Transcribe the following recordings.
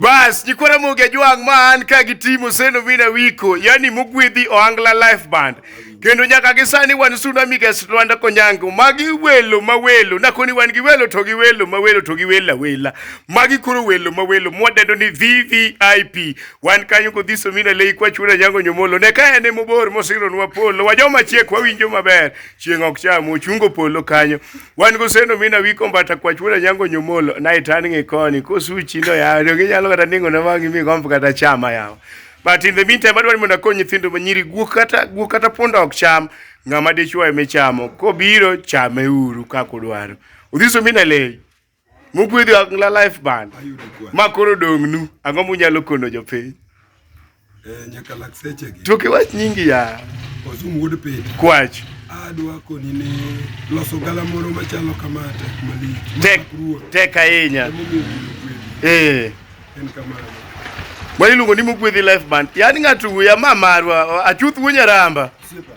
Bas, nyikwa Ramogi Ajwang' ma an ka gi team Oseno Mina Wiko, yani mogwedhi Ohangla Life Band. Kendo nyaka gi sani wan Suna Migas Lwanda Konyango, magi welo ma welo, nakoni wan gi welo to gi welo ma welo to gi wela wela. Magi koro welo ma welo mwadendo ni VVIP. Wan kanyo kodhi Somina Lei kwa chura nyango nyomolo. Ne ka ene mobor mosironwa polo, wajoma chiek wawinjo maber. Chieng' ok cham, ochungo polo kanyo. wan goseno mina wi kombata kwach wuod anyango nyomolo nae tan ng'e koni kosuchi no yawa to ginyalo kata ningo na wang'i mi gomb kata chama yawa but in the meantime adwaro ni mondo akony nyithindo ma nyiri guok kata guok kata punda ok cham ng'ama dichwo eme chamo kobiro chame uru kaka udwaro udhiso mina lei Mugwedhi Wangla Life Band. Ma koro dong'nu, ang'o munyalo kono jopiny? Eh, nyaka lak seche gi. Tuki wach nyingi ya. Osum wuod piny. Kwach. Adwa koni ni loso gala moro machalo kama tek malich. Tek, tek ahinya. Eh. En kamano. Mwa iluongo ni Mugwedhi Life Band. Yaani ng'ato wuya ma marwa, achuth wunya ramba. Sipa.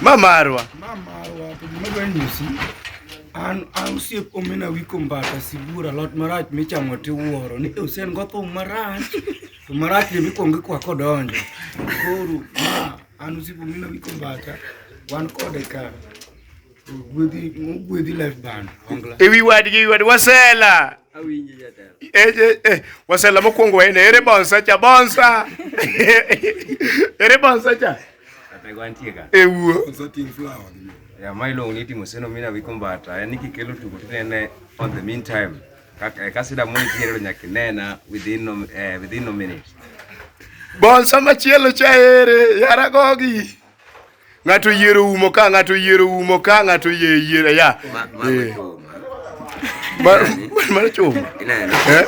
Ma marwa. Ma marwa to gima dwa nyisi an an osiep omena wiko mbata sibuor alot marach michamo tiwuoro ni Hussein go thum marach to marach ne mikwongo ikwako odonjo koro ma an osiep omena wiko mbata wan kode ka ewi wadgi ewi wadgi wasela eh, eh, eh, wasela mokwongo wayne ere bonsa cha bonsa ere bonsa cha ewuo ya ma iluongo ni timo seno mina wiko mbata en kikelo tugo tinene on the meantime kasida mo nitiere nyaka inena within no, eh, within no minute bonsa machielo cha ere yaragogi Ng'ato yiero umo ka, ng'ato yiero umo ka, ng'ato yie yiero ya. Eh. Ma- Mano chuma. Eh?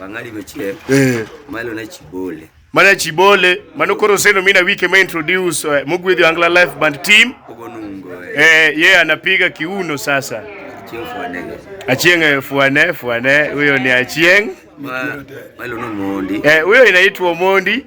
wang'adi machiel Eh. malo na chibole Mano Chibole, mano koro seno mina wike ma introduce eh, mogwedhi Angla Life Band team. ogonungo Eh, yeye anapiga kiuno sasa. chieng' fwanega Achieng eh, fuane fuane, huyo ni Achieng. ma malo nomondi Eh, huyo inaitwa Mondi.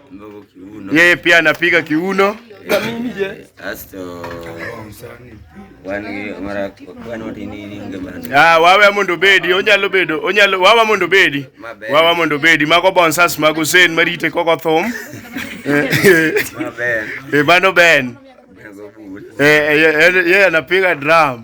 Yeye pia anapiga kiuno. Ah, wawe mondo bedi onyalo bedo onyalo wawa mondo bedi wawa mondo bedi mago bonsas mago sen marite koko thum e mano ben yeye anapiga drum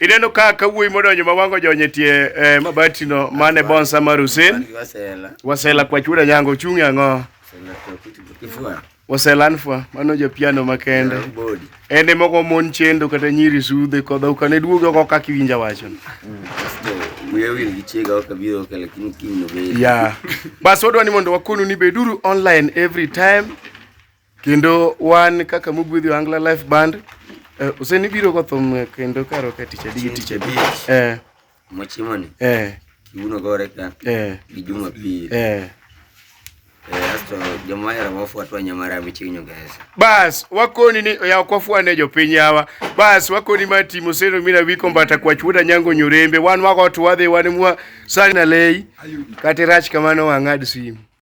Ineno ka ka wuoyi modonjo ma wango jonye tie eh, mabati no mane bonsa mar Hussein. Wasela kwa chura nyango chungi ang'o? Wasela anfwa mano jo piano makende. Ende moko mon chendo kata nyiri sudhe kodha ukane duogo oko kaka iwinja wacho. Yeah. Bas wadwa ni mondo wakonu ni beduru online every time. Kendo wan kaka mogwedhi Angla Life Band eh, oseni biro go thum eh, kendo karo ka tich adi gi tich adi. Eh. Mochimo ni. Eh. Kiuno gore ka. Eh. Gi juma pili. Eh. eh asto joma era wafuatwa nyamara michinyo guys. Bas wakoni ni ya kwafuane jopiny yawa. Bas wakoni ma timo seno mina wiko mbata kwa chuda nyango nyorembe wan wago tuwadhe wan mwa sana lei. Kati rach kamano wang'ad simu.